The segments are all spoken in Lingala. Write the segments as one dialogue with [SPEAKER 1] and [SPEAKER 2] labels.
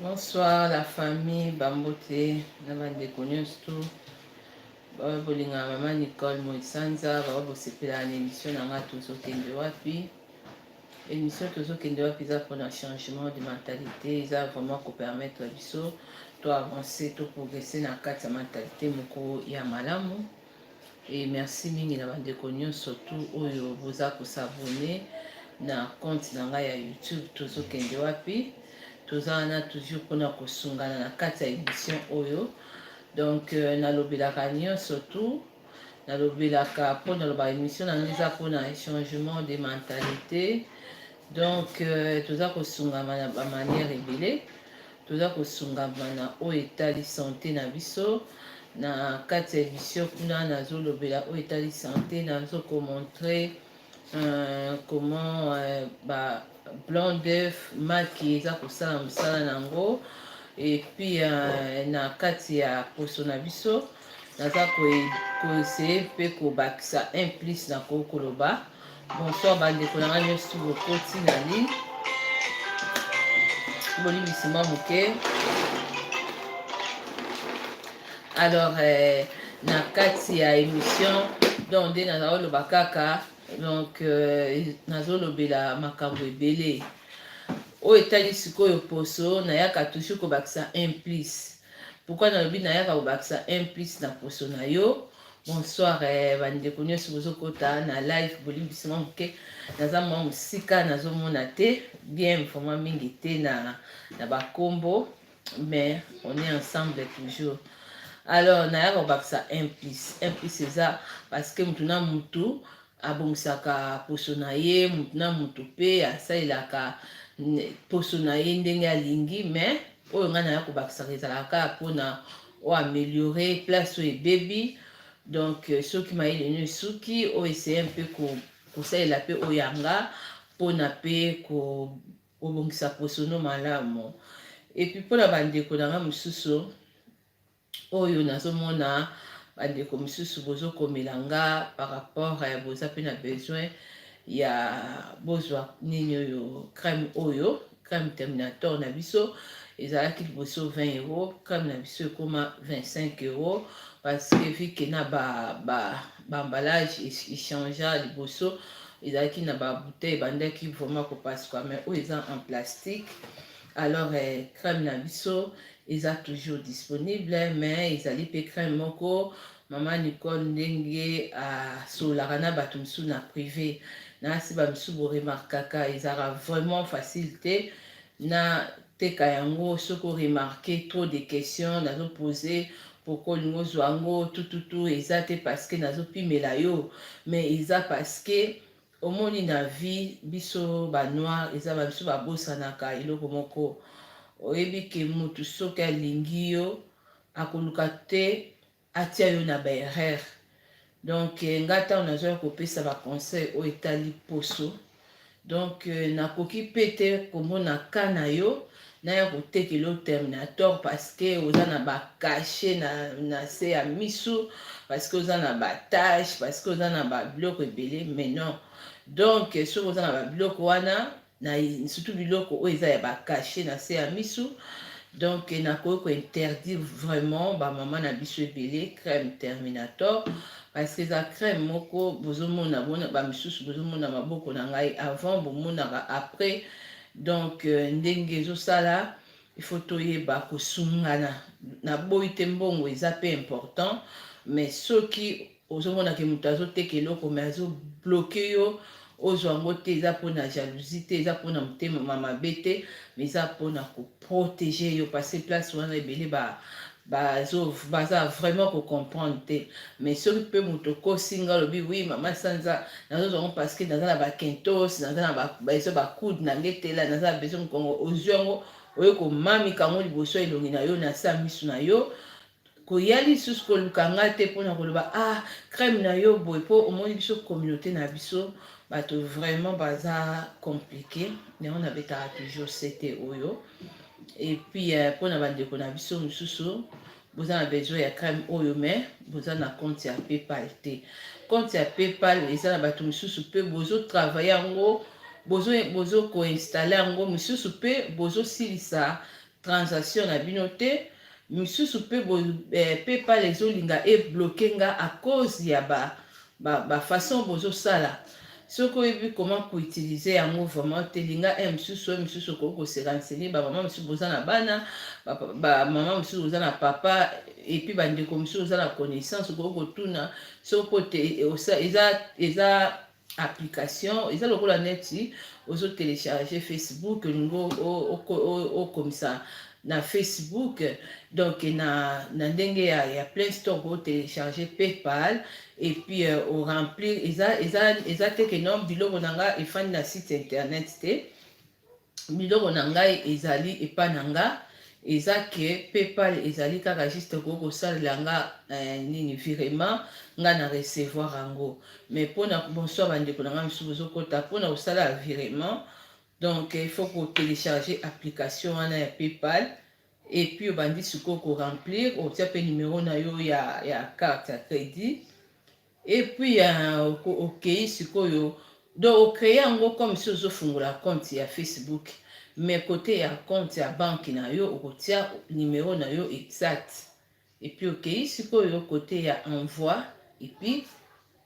[SPEAKER 1] Bonsoir la famille bambote na bandeko nyonso tu baoyo bolingaka mama Nicole Moisanza baoyo bosepelaka na émission na ngai tozokende wapi émission tozokende wapi eza mpona changement de mentalité eza vraiment kopermettre biso to avancer to progresser na kati ya mentalité moko ya malamu Et merci mingi na bandeko nyonso tout oyo boza ko s'abonner na compte na ngai ya YouTube tozokende wapi toza wana toujours mpona kosungana na kati ya émission oyo donc euh, nalobelaka nyonso tout nalobelaka mpo naloba émission na ngai eza mpona changement de mentalité donc euh, toza kosungama na bamanière ebele toza kosungama na oyo etali sante na biso na kati ya emission kuna nazolobela oyo etali sante nazo komontre euh, comment euh, ba blanc d'œuf maki eza kosala mosala na yango epuis euh, na kati ya poso na biso naza koeseye mpe kobakisa un plus na koki koloba bonsoir bandeko na ngai nyonso bokoti na lini bolimbisi mwa moke alors eh, na kati ya émission donc nde nazali oloba kaka donc euh, nazolobela makambo ebele oyo etali sikoyo poso nayaka toujours kobakisa un plus Pourquoi nalobi nayaka kobakisa un plus na poso na yo bonsoir eh, bandeko nyonso bozokota na live bolimbisi mwa moke naza mwa mosika nazomona te bien vraiment mingi te na, na bakombo mais on est ensemble toujours alors naya kobakisa un plus un plus eza parce que motu na motu abongisaka poso na ye motu na motu mpe asalelaka poso na ye ndenge alingi mais oyo ngai naya kobakisaka ezalaka kaka mpona o ameliore place oyo ebebi donc euh, soki mayele no esuki o essaye mpe kosalela mpe oyo yanga mpona mpe kobongisa posono malamu epuis mpona bandeko na ngai mosusu oyo nazo mona ba ndeko misusu bozo komela nga par rapport eh, boza pe na besoin ya bozwa nini oyo crème oyo crème terminator na biso ezalaki liboso 20 euro crème na biso ekoma 25 euro parce que vu que na ba ba ba emballage echangea liboso ezalaki na ba bouteille ebandaki vraiment kopasuka mais oyo eza en plastique alors eh, crème na biso Eza toujours disponible mais ezali pe crème moko maman Nicole ndenge asolaka na batu misusu na prive na si ba misusu bo remarkaka ezaka vraiment facile te na teka yango soki o remarquer trop de questions nazo poser pourquoi olingi ozwa yango tututu eza te parce que nazo pimela yo mais eza parce que Omoni na vie biso ba noir eza ba biso ba bosanaka eloko moko oyebi ke mutu soki alingi yo akoluka te atia yo na ba erreur donc nga tango nazwaki kopesa ba conseil oyo etali poso donc nakoki pe te komona cas na yo naya kotekela yo terminator parceke oza na bacachet na, na se ya misu parceke oza na batache parceke oza na babiloko ebele mais non donc soki oza na babiloko wana na surtout biloko oyo eza ya bacachet na se ya misu donc nakoki kointerdire vraiment bamama na biso ebele crème terminator parce que eza crème moko bozomona bona bamisusu bozomona maboko na ngai avant bomonaka après Donc ndenge ezo sala il faut toyeba kosungana na boyi te mbongo eza pe important mais soki ozomona ke moto azoteka eloko mais azo bloke yo ozwa yango te eza mpona jalousie te eza mpona motema ma mabe te mais eza mpona koprotege yo parce place wana ebele ba Bazo baza vraiment ko comprendre te mais soki pe moto okosi nga olobi oui mama sanza nazo zongo parce que naza na ba kentos naza na ba besoin ba coude na ngetela naza na besoin mokongo ozwi yango oye komami kango liboso ya elongi na yo na sa misu na yo koya lisusu koluka nga te mpona koloba ah crème na yo boye mpo omoni biso communauté na biso bato vraiment baza compliqué yango nabetaka toujours sete oyo et puis euh, pona ba ndeko na biso mususu boza na besoin ya crème oyo mais boza na compte ya PayPal te compte ya PayPal eza na bato mosusu mpe bozo travailler yango bozo bozo ko installer yango mosusu mpe bozo silisa transaction na bino te misusu mpe eh, PayPal ezolinga ebloke nga à cause ya ba ba ba façon bozo sala soki oyebi comment ko utiliser yango vraiment te linga un mosusu un mosusu okoki ko se renseigner ba maman mosusu boza na bana ba, ba maman mosusu boza na papa et puis ba ndeko mosusu boza na connaissance okoki kotuna soki po te e, e, eza eza application eza lokola neti ozo télécharger facebook olingi okomisa na Facebook donc na, na ndenge ya, ya Play Store ko télécharger PayPal et puis euh, au remplir eza eza eza te que non biloko na nga efandi na site internet te biloko na ngai ezali epa na nga eza que PayPal ezali kaka juste ko kosalela nga eh, nini virement nga na recevoir yango mais pona bonsoir bandeko na nga misusu bozokota pona kosala virement Donc il faut ko télécharger application wana ya PayPal et puis obandi sikoyo ko remplir otia pe numero na yo ya ya carte ya credit et puis euh, okei sikoyo donc ocree yango comme si ozofungola compte ya Facebook mais kote ya compte ya banki na yo okotia numero na yo exact Et puis okeyi sikoyo kote ya envoi et puis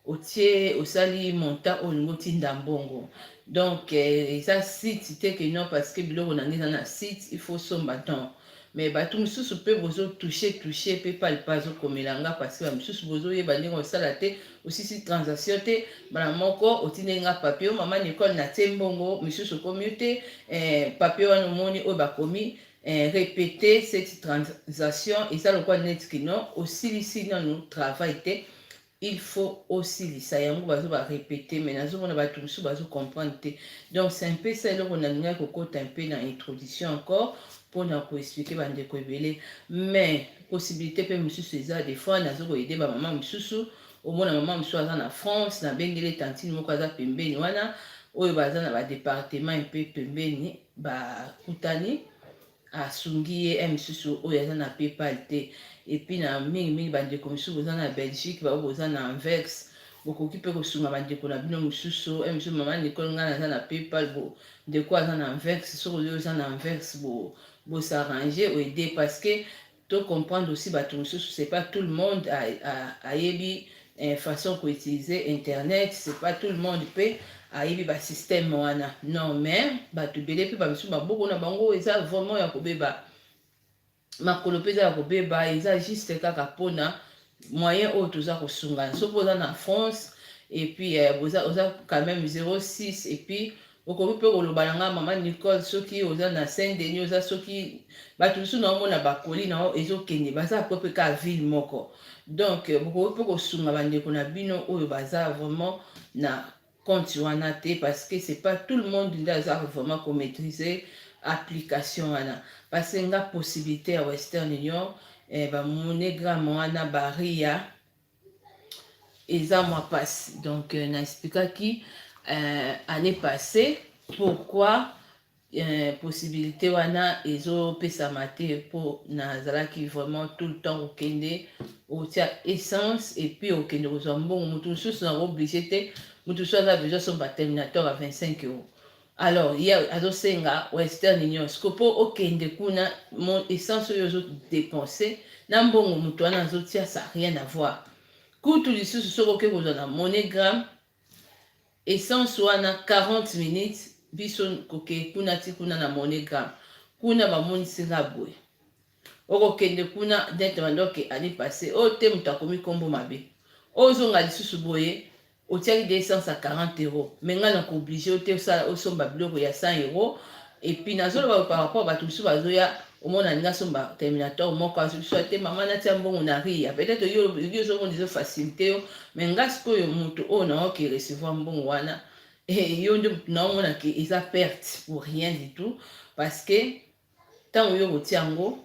[SPEAKER 1] otie osali montant oyo olingi otinda mbongo donc eh, eza site te ke non parce que biloko na ngai eza na site il faut somba donc mais bato mosusu mpe bozotouche touche mpe palipa azokomela nga parce ba mosusu bozoyeba ndenge osala te osisi transaction te mbala moko otindeli nga papier mama nicole natie mbongo misusu okomi yo te eh, papier wana omoni oyo bakomi eh, repete cette transaction eza lokola neti kino osilisi nanu travail te il faut osilisa yango bazo barepete mai nazomona bato mosusu bazo comprendre te donc c'est un peu ça eloko nalingaki kokota un peu na introduction encore mpona koexplike bandeko ebele mais possibilité mpe mosusu eza des fois nazo koyede bamama mosusu omona mama mosusu aza na france nabengeli tantine moko aza pembeni wana oyo baza na badepartement mpe pembeni bakutani asungi ye ya mosusu oyo aza na paypal te epuis na mingimingi bandeko mosusu boza na belgique bao boza na anvex bokoki mpe kosunga bandeko na bino mosusu ya mosusu mama nicole ngai naza na paypal bo ndeko aza na anvex soki oyo oza na anvex bo bosarrange oede parce que To comprendre aussi batu mususu c'est pas tout le monde a, a, ayebi eh, façon ko utiliser internet, c'est pas tout le monde pe ayebi ba système wana. Non mais batu bele pe ba misusu maboko na bango eza vraiment ya kobeba. Makolo pe eza ya kobeba, eza juste kaka pona moyen oyo toza kosungana soki oza na france et puis euh, boza oza quand même 06 et puis okoki mpe koloba na ngai mama nicole soki oza na saint denis oza soki bato mosusu na omona bakoli na yo ezokende baza po mpe kaka ville moko donc euh, bokoki mpe kosunga bandeko na bino oyo baza vraiment na compte wana te parce que c'est pas tout le monde nde aza vraiment ko maîtriser application wana parce que nga possibilité ya Western Union eh, ba monogramme wana baria eza mwa pasi donc euh, na expliquaki euh, année passée pourquoi eh, possibilité wana ezopesama te mpo nazalaki vraiment tout le temps kokende otia essence epuis okende kozwa mbongo moto mosusu nako oblige te moto mosusu aza besoin somba terminateur ya 25 euro alors ye azosenga western union siko mpo okende kuna essence oyo ozodepense na mbongo moto wana azotia sa rien avoir kutu lisusu soki oke kozwa na monogramme Essence wana 40 minutes biso kokee kuna ti kuna na monogram kuna bamonisi nga boye okokende kuna dente mandoke ani passe oyo te moto akomi nkombo mabe ozonga lisusu boye otiaki de essence ya 40 euro me ngai na kooblige yo te osala osomba biloko ya 100 euro Et puis nazo loba par rapport bato misusu bazo ya omona alingi asomba terminator moko azoki so te mama natia mbongo na ria peut-être yo yo ozomona ezo facilité yo mais nga sikoyo moto oyo naoki recevoir mbongo wana eh, yo nde moto naomona ke eza perte pour rien du tout parce que ntango yo kotia yango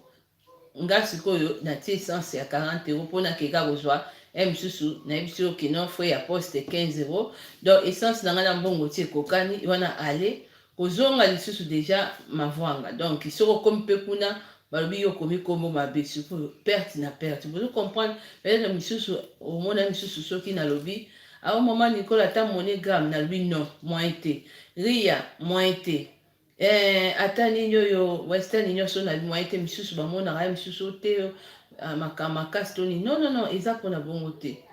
[SPEAKER 1] Nga sikoyo na tie essence ya 40 euro po na keka kozwa un mususu na yebisi yo kino frais ya poste 15 euro donc essence na nga na mbongo ti ekokani wana aller kozonga lisusu deja mavuanga donc soki okomi pe kuna balobi yo okomi kombo mabe sikoyo perte na perte bozo comprendre peut-être misusu omona misusu soki nalobi awa ah, mama nicola ata monogramme nalobi non moyen te ria moyen te Eh, ata nini oyo western union so na moyen te misusu bamonaka ye misusu te ah, makambo makasi to nini non non non eza mpona bongo te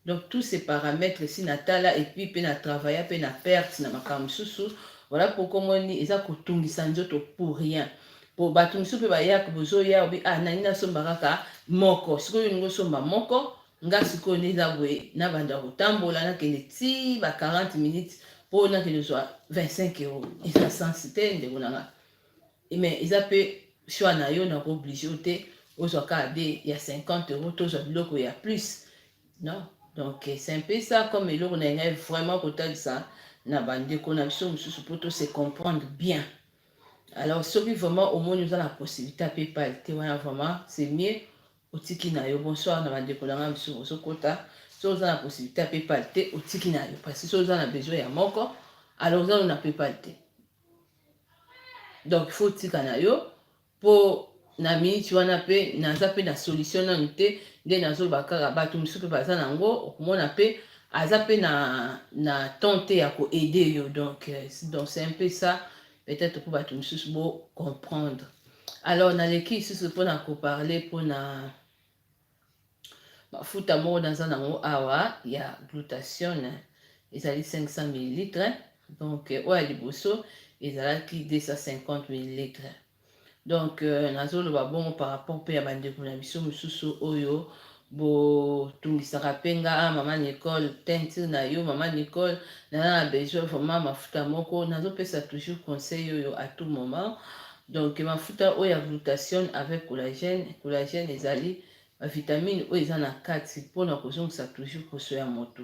[SPEAKER 1] donc tous ces paramètres si natala epuis mpe na travailla mpe na perte na makambo mosusu voilà pourquoi omoni eza kotungisa nzoto pour rien po bato mosusu mpe bayaka bozoya obi ah nani nasomba kaka moko sikoyo olingi osomba moko Nga sikoyo nde eza boye na banda kotambola na kende ti ba 40 minutes po na kende zwa 25 euros eza sens te ndeko na nga mais eza pe choix na yo na ko oblige yo te ozwa ka de ya 50 euros tozwa biloko ya plus non donc c'est un peu ça comme eloko na ngai vraiment kotalisa na ba ndeko na biso mosusu po to se comprendre bien alors soki vraiment omoni oza na possibilité pe pale te wana vraiment c'est mieux otiki na yo bonsoir na bandeko na ngai mosusu ozokota so oza na possibilité ya paypal te otiki na yo parce so oza na besoin ya moko alors oza na paypal te donc faut otika na yo mpo na miniti wana mpe naza mpe na solution nanu te nde nazoloba kaka bato mosusu mpe baza na yango okomona mpe aza mpe na na temps te ya koaide yo donc euh, donc c'est un peu ça peut-être mpo bato mosusu bo comprendre alors naleki lisusu mpo na koparle mpo na mafuta moko naza nango awa ya glutation ezali 500 millilitre donc oyo ya liboso ezalaki 250 millilitre Donc euh, nazoloba bongo par rapport mpe ya bandeko na biso mosusu oyo botungisaka mpe nga ah, mama Nicole teinture na yo mama Nicole naza na besoin vraiment mafuta moko nazopesa toujours conseil oyo à tout moment donc mafuta oyo ya glutation avec collagène collagène ezali bavitamine oyo eza na kati mpona kozongisa toujours poso ya motu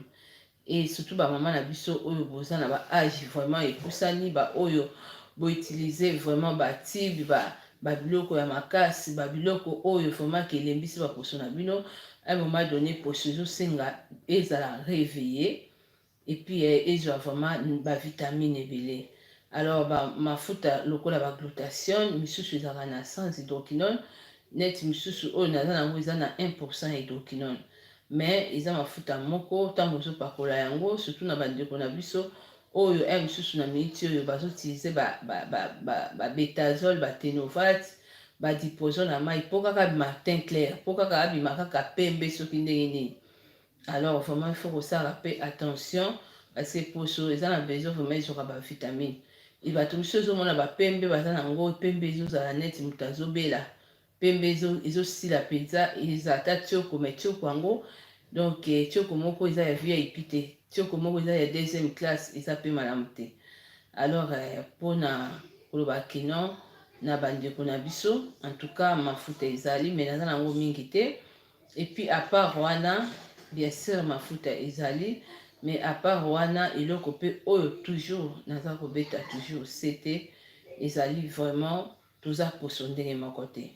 [SPEAKER 1] et surtout ba maman na biso oyo boza na ba age vraiment epusani ba oyo bo utiliser vraiment ba tube ba ba biloko ya makasi ba biloko oyo vraiment ke elembisi ba poso na bino à un moment donné poso ezosenga ezala réveiller et puis eh, ezwa vraiment ba vitamine ebele alors ba mafuta lokola ba glutation misusu ezalaka na sans hydroquinone neti misusu oyo naza nango eza na 1 hydroquinone Mais eza mafuta moko tango ozo pakola yango surtout na ba ndeko na biso oyo heure mususu na minute oyo bazo utiliser ba ba ba ba ba betazole ba tenovat ba diproson na mayi po kaka abima teint clair po kaka abima kaka pembe soki ndenge nini alors vraiment il faut kosala pe attention parce que poso eza na besoin vraiment ezwaka ba vitamine e bato mosusu ezomona ba pembe baza na ngo pembe ezozala neti moto azobela pembe ezo ezo sila penza eza ata tioko mais tioko yango donc eh, tioko moko eza ya vip te tioko moko eza ya deuxième classe eza pe malamu te alors eh, pona koloba que non na bandeko na biso en tout cas mafuta ezali mais naza nango mingi te et puis à part wana bien sûr mafuta ezali mais à part wana eloko pe oyo toujours naza kobeta toujours sete ezali vraiment Toza poso ndenge moko te.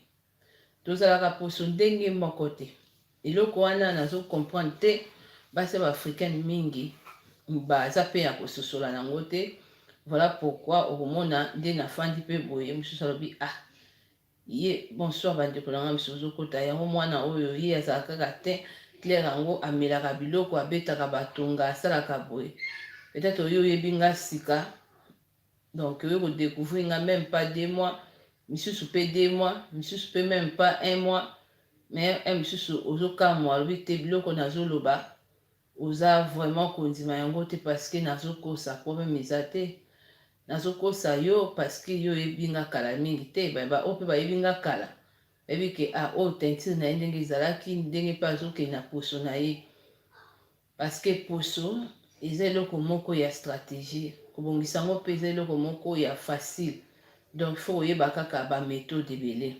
[SPEAKER 1] Tozalaka poso ndenge moko te. Eloko wana nazo comprendre te. Basi ya bafricaine mingi baza mpe ya kososola nango te. Voilà pourquoi okomona nde nafandi mpe boye mosusu alobi ah ye bonsoir bandeko na ngai mosusu ozokota yango mwana oyo ye azala kaka te claire yango amelaka biloko abetaka batonga asalaka boye peut-être oyo oyebi ngai sika Donc oye ko decouvrir nga meme pas deux mois, misusu pe deux mois, misusu pe meme pas un mois, mais un misusu ozo kamwa alobi te biloko nazo loba oza vraiment kondima yango te parce que nazo kosa problème eza te. Nazo kosa yo parce que yo oyebi nga kala mingi te, ba ba oyo pe bayebi nga kala bayebi ke ah oyo teinture na ye ndenge ezalaki, ndenge pe azo kende na poso na ye. Parce que poso eza eloko moko ya strategie, kobongisa yango pe eza eloko moko ya facile, donc il faut koyeba kaka ba methodes ebele,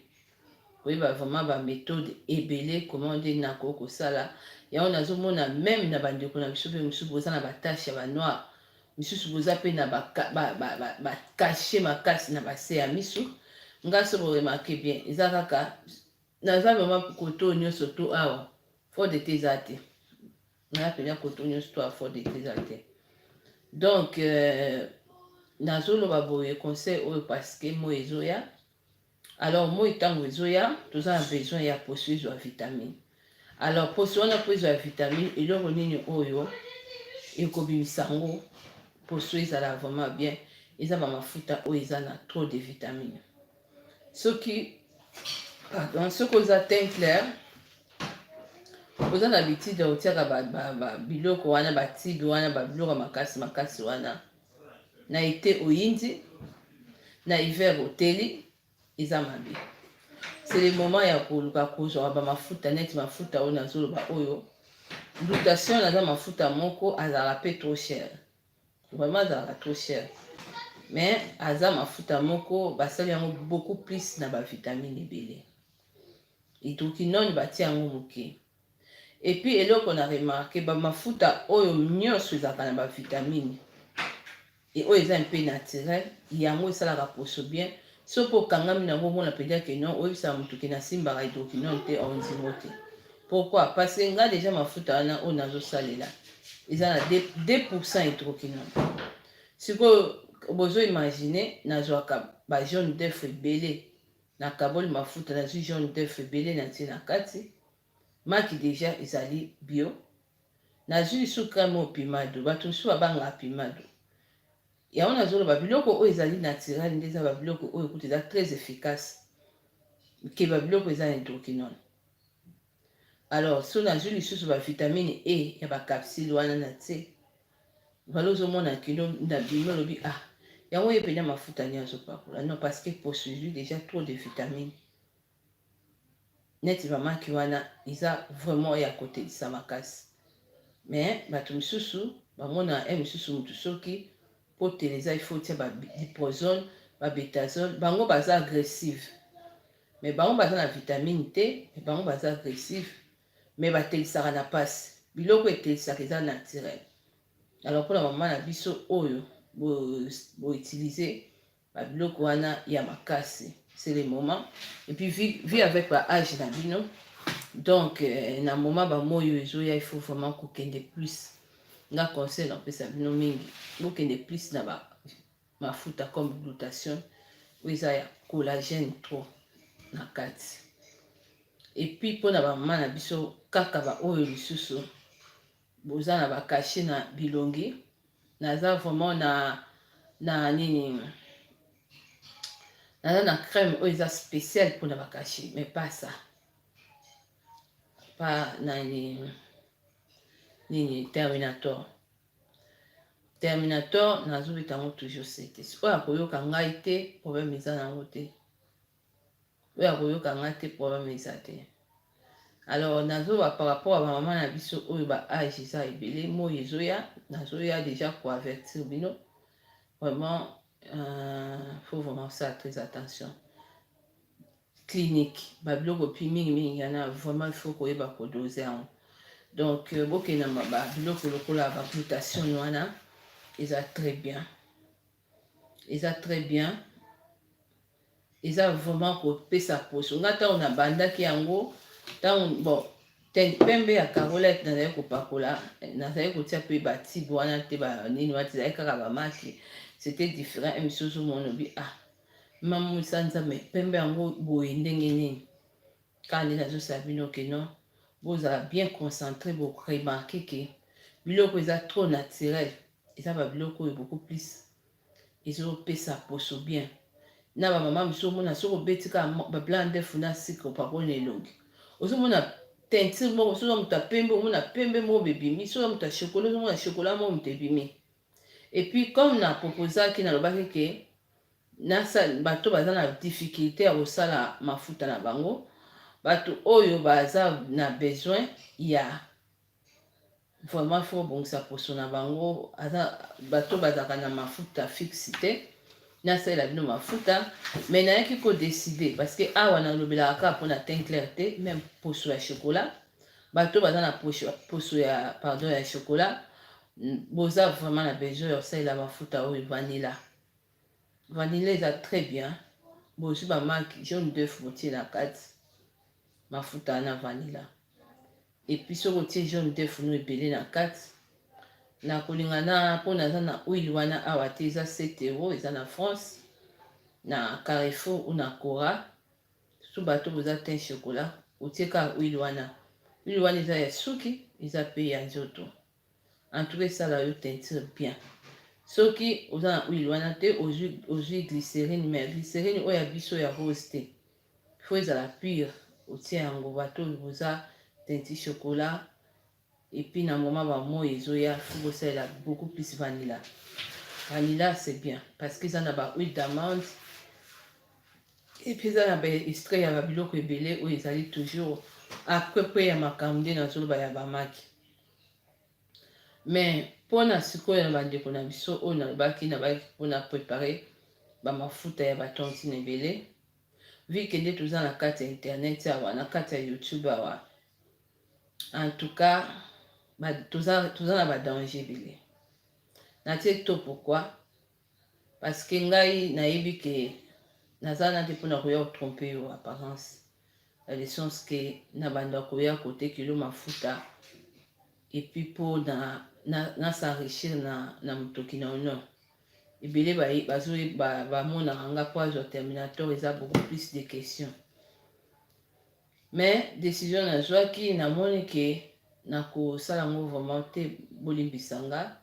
[SPEAKER 1] koyeba vraiment ba methodes ebele comment nde nako kosala yango, nazo mona meme na ba ndeko na biso pe misusu boza na ba taches ya ba noir, misusu boza pe na ba ba cachet makasi na ba se ya misu, nga soki bo remarquer bien eza kaka Naza vraiment koto nioso to awa fort de te eza te naza pena koto nioso to awa fort de te eza te donc euh, nazoloba boye conseil oyo parce que moi ezoya alors moi ntango ezoya toza na besoin ya poso ezwa vitamine alors poso wana mpo ezwa vitamine eloko nini oyo ekobimisa yango poso ezala vraiment bien eza bamafuta oyo eza na trop de vitamine soki pardon soki oza teint clair oza na bitide ya kotiaka biloko wana batibe wana babiloko ya makasi makasi wana na ete oyindi na hiver oteli eza mabe c'est le moment ya koluka kozwa bamafuta neti mafuta oyo nazoloba oyo lutation naza mafuta moko azalaka mpe trop cher Vraiment azalaka trop cher mais aza mafuta moko basali yango beaucoup plus na ba vitamine ebele hydroquinone batie yango moke epuis eloko na remarke bamafuta oyo nyonso ezalaka na bavitamine e oyo eza mpe naturel yango esalaka poso bien Soki okangami na yango omona penza que non oyebisaka mutu que nasimbaka hydroquinone te or nzimo te pourquoi parce que nga dejà mafuta wana oyo nazosalela eza na 2% hydroquinone sikoyo bozo imaginer nazwaka ba jaune d'œuf ebele nakaboli mafuta nazwi jaune d'œuf ebele natie na kati Maki deja ezali bio. Nazui lisusu crème oyo pimado. Batu misusu babangaka pimado. Yango nazoloba biloko oyo ezali naturel nde eza ba biloko oyo kutu eza très efficace ke ba biloko eza hydroquinone. Alors so nazui lisusu ba vitamine E ya ba capsule wana na tse. Valo ozomona kino na bimi olobi ah yango ye pena mafuta ni azopakola non parce que poso ezui deja trop de vitamine. neti ba maki wana eza vraiment ya kotelisa makasi mais batu misusu bamonaka heure misusu mutu soki potele eza il faut otia ba diprozone ba betazole bango baza agressive mais bango baza na vitamine te mais bango baza agressive mais batelisaka na pasi biloko etelisaka eza naturel alors mpona mama na biso oyo boutilize bo ba biloko wana ya makasi c'est le moment et puis vie, vie avec ba age na bino donc euh, na moment ba moyo ezoya il faut vraiment kokende plus nga conseil napesa bino mingi bokende plus na ba mafuta comme glutation oyo eza ya collagène trop na kati epuis mpo na bamama na biso kaka baoyo lisusu Boza na ba cachet na bilongi. Naza vraiment na na nini naza na crème oyo eza spéciale mpona ba cachet mais pas ça pas na nini nini terminator terminator nazobeta yango toujours cete oyo akoyoka ngai te problème eza na yango te oyo akoyoka nga te problème eza te alors nazoloba par rapport ya bamama na biso oyo ba age eza ebele moi ezoya nazoya déjà koavertir bino vraiment euh, faut vraiment ça très attention clinique babiloko pi mingi mingi yana vraiment il faut koyeba kodose yango donc euh, bokendama babiloko lokola baglutation wana eza très bien eza très bien eza vraiment kopesa poso nga ntango nabandaki yango ntango bon ten pembe ya carolette nazali kopakola nazali kotia mpe batibe wana te banini wana tezali kaka bamaki c'était différent emission ozomona obi ah mamusa nzambe pembe yango boye ndenge nini kaka nde nazosala bino ke non bozala bien concentré boremarke ke biloko eza trop naturel eza ba biloko oyo beaucoup plus ezopesa poso bien na bamama mosusu omona soki obeti kaka babla ndefu na sika opakoli na elongi ozomona teinture moko soki moto ya pembe omona pembe moko bebimi soki moto ya chokola ozomona chokola moko moto ebimi epuis comme na proposaki nalobaki ke bato baza na difficulté ya kosala mafuta na bango bato oyo baza na besoin ya Vraiment faut bongisa poso na bango aza bato bazalaka na mafuta fixe te nasalela bino mafuta mais nayaki ko décider parce que awa nalobelaka kaka mpo na teint clair te même poso ya chocolat bato baza na poso ya pardon ya chocolat boza vraiment na besoin ya kosalela mafuta oyo vanilla Vanilla eza très bien bozui ba maki jaune d'oeuf botie na kati mafuta na vanilla epuis soki otie jaune d'oeuf no ebele na kati na kolinga na mpona aza na huile wana awa te eza 7 euro eza na france na carrefour ou na cora su bato boza tein chocolat otie kaka huile wana huile wana eza ya suki eza pe ya nzoto En tout cas esala yo teinture bien. Soki oza na huile wana te ozwi ozwi glycerine mais glycerine oyo ya biso ya rose te. Faut ezala pure otie yango bato boza teinti chocolat et puis na moment ba moi ezoya faut bosalela beaucoup plus vanilla. Vanilla c'est bien parce que eza na ba huile d'amande et puis eza na ba extrait ya ba biloko ebele oyo ezali toujours après pe ya makambo nde nazoloba ya bamaki mais pona sikoyo na bandeko na biso oyo nalobaki nabaki pona prepare bamafuta ya batontine ebele vike nde toza na kati ya internet awa na kati ya youtube awa en tout cas toza, toza na badanger ebele natie to pourkui Parce que ngai nayebi que naza wana te pona koya ko tromper yo apparence na le sens que na banda koya kote kilo mafuta et puis po na na, na s'enrichir na na mutoki na honneur ebele ba bazo ba, ba monaka nga po azwa terminator eza beaucoup plus de questions mais décision nazwaki namoni ke nakosala yango vraiment te bolimbisa nga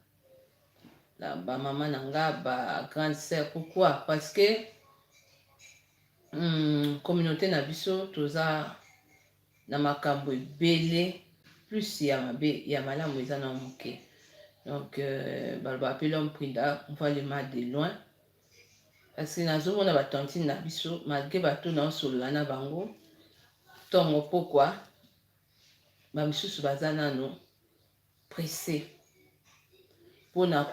[SPEAKER 1] na ba mama na nga ba grande sœur pourquoi parce que hmm, communauté na biso toza na makambo ebele plus ya mabe ya malamu eza na moke donc euh, baloba mpe lhomme prinda mvalema de loin kasi nazomona batantine na biso malgre bato naosolola na bango ntongo mpokwa bamisusu baza nano presse mpona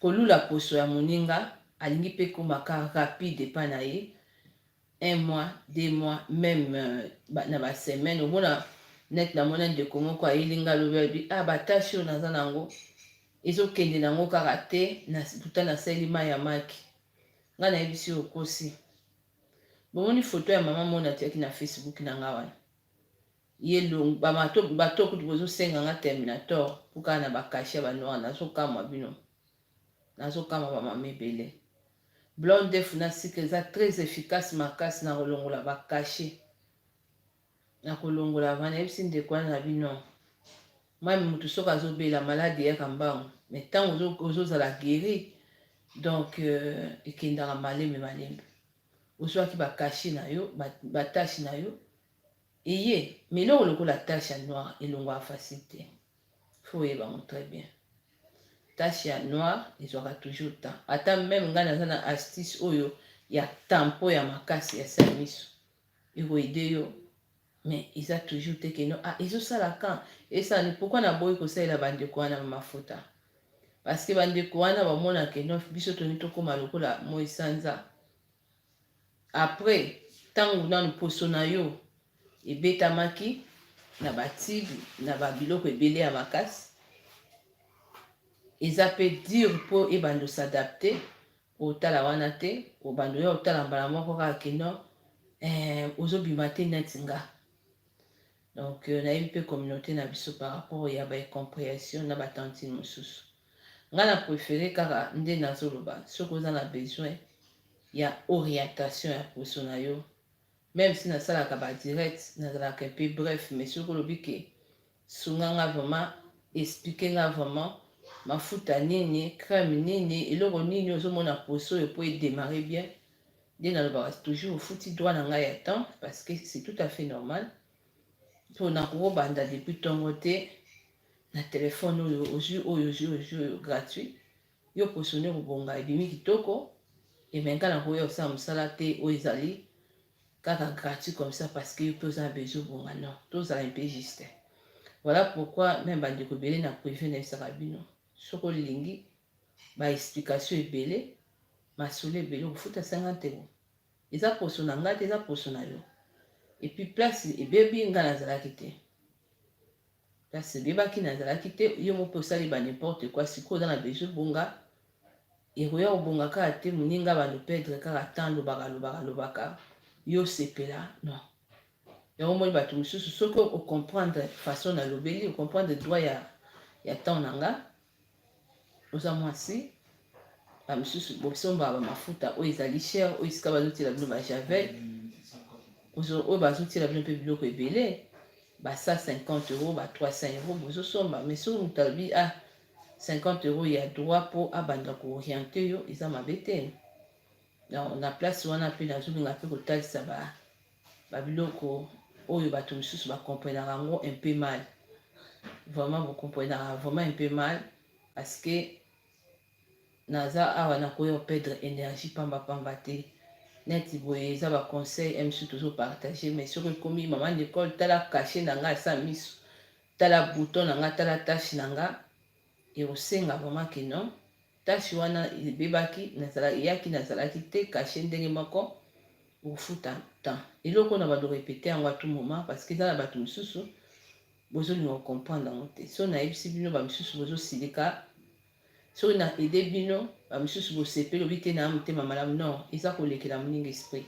[SPEAKER 1] kolula poso ya moninga alingi mpe komaka rapide epai na ye un mois deux mois meme euh, na basemaine omona net namona ndeko moko ayeli nga lobi alobi ah batasi oyo naza nango ezokende nango kaka te puta nasaleli mai ya maki nga nayebisi okosi bomoni foto ya mama mona atiaki na facebook na nga wana ye longue ba mato bato kutu bozo senga nga terminator po kaka na ba cachet ya ba noir nazo kamwa bino nazo kamwa ba mama ebele blonde def na sucre eza très efficace makasi na kolongola ba cachet na kolongola vana yebisi ndeko wana na bino mami mutu soki azobela malade eyaka mbangu me ntango ozozala guéri donc euh, ekendaka malembe malembe Ozwaki ba cachet na yo, ba tache na yo eye mais eloko lokola tache ya noir elongwaka facile te faut oyeba yango très bien tache ya noir ezwaka toujours temps ata meme ngai naza na astuce oyo ya tampo ya makasi ya samiso ekoede yo Mais eza toujours te que non ah ezo sala quand esala nde pourquoi na boyi ko salela ba ndeko wana ba mafuta parce que ba ndeko wana ba mona que non biso tolingi to koma lokola moyi sanza après tangu nanu poso na yo ebetamaki na ba tube na ba biloko ebele ya makasi eza pe dur po ebanda s'adapter Otala wana te obanda oya otala mbala moko kaka kino eh, ozo bima te neti nga donc euh, nayebi pe communauté na biso par rapport ya ba incomprehension na ba tantine mosusu nga na prefere kaka nde nazoloba soki oza na besoin ya orientation ya poso na yo meme si nasalaka ba direct nazalaka mpe bref mais soki olobi ke Sunga nga vraiment explique nga vraiment mafuta nini crème nini eloko nini ozo mona poso oyo po e demarrer bien nde nalobaka toujours ofuti droit na ngai ya temps parce que c'est tout à fait normal po nakobanda depuis tongo te na telefone oyo ozwi oyo ozwi ozwi oyo gratuit yo posone kobonga ebimi kitoko emenka na koya osala mosala te oyo ezali kaka gratuit comme ça parce que yo pe oza na besoin obonga non tozala un peu juste voilà pourquoi meme bandeko ebele na privé nayebisaka bino soki olingi ba explication ebele masolo ebele okofuta 50 euro eza poso na ngai te eza poso na yo epuis place ebebi ngai nazalaki te Kasi bebaki nazalaki te yo moko pe osali ba n'importe quoi sikoyo oza na besoin bonga ekoya kobonga kaka te muninga ba lo pedre kaka temps lobaka lobaka lobaka yo osepela non yango omoni bato mosusu soki ocomprendre façon nalobeli ocomprendre droit ya ya temps na nga oza mwasi bamisusu bosombaka bamafuta oyo ezali cher oyo esika bazotiela bino bajavel oyo bazotiela bino mpe biloko ebele ba 150 euro ba 300 euro bozosomba mais soki moto alobi a ah, 50 euro ya droit mpo abanda kooriente yo eza mabe te na place wana mpe nazolinga mpe kotalisa ba Ba biloko oyo batu misusu ba comprenaka yango un peu mal. Vraiment bo comprenaka vraiment un peu mal parce que naza awa na koyo perdre energie pamba pamba te. Neti boye eza ba conseil un misu tozo partager mais soki ekomi maman Nicole tala cachet na nga sa misu tala bouton na nga tala tache na nga et osenga vraiment que non Tache wana ebebaki nazala eyaki nazalaki te cache ndenge moko okofuta temps eloko na bando repete yango a tout moment parce que eza na bato misusu bozolinga ko comprendre yango te so nayebisi bino ba misusu bozosilika soki na aide bino ba misusu bosepeli obi te na motema malamu non eza kolekela moninga esprit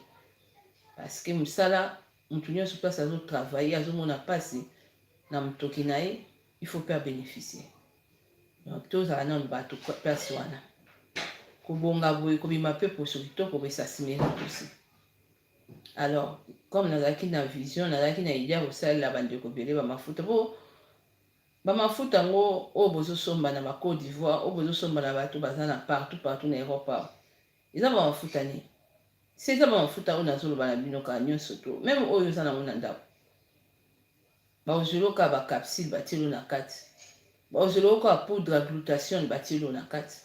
[SPEAKER 1] parce que mosala moto nyonso place azotravaille azomona mpasi na motoki na ye il faut pe abeneficie donc tozala nanu bato place wana kobonga boye kobima mpe poso kitoko boye sasimela tosi alors comme nazalaki na vision nazalaki na idée ya kosalela bandeko ebele bamafuta mpo bamafuta yango oyo bozosomba na bacode d'ivoire oyo bozosomba na bato baza na partout partout na europe awa eza bamafuta nini se eza bamafuta oyo nazoloba na bino kala nyonso to meme oyo oza nango na ndako Bakozwela yo kaka ba capsules batieli yo na kati. Bakozwela yo kaka poudre ya glutation batieli yo na kati.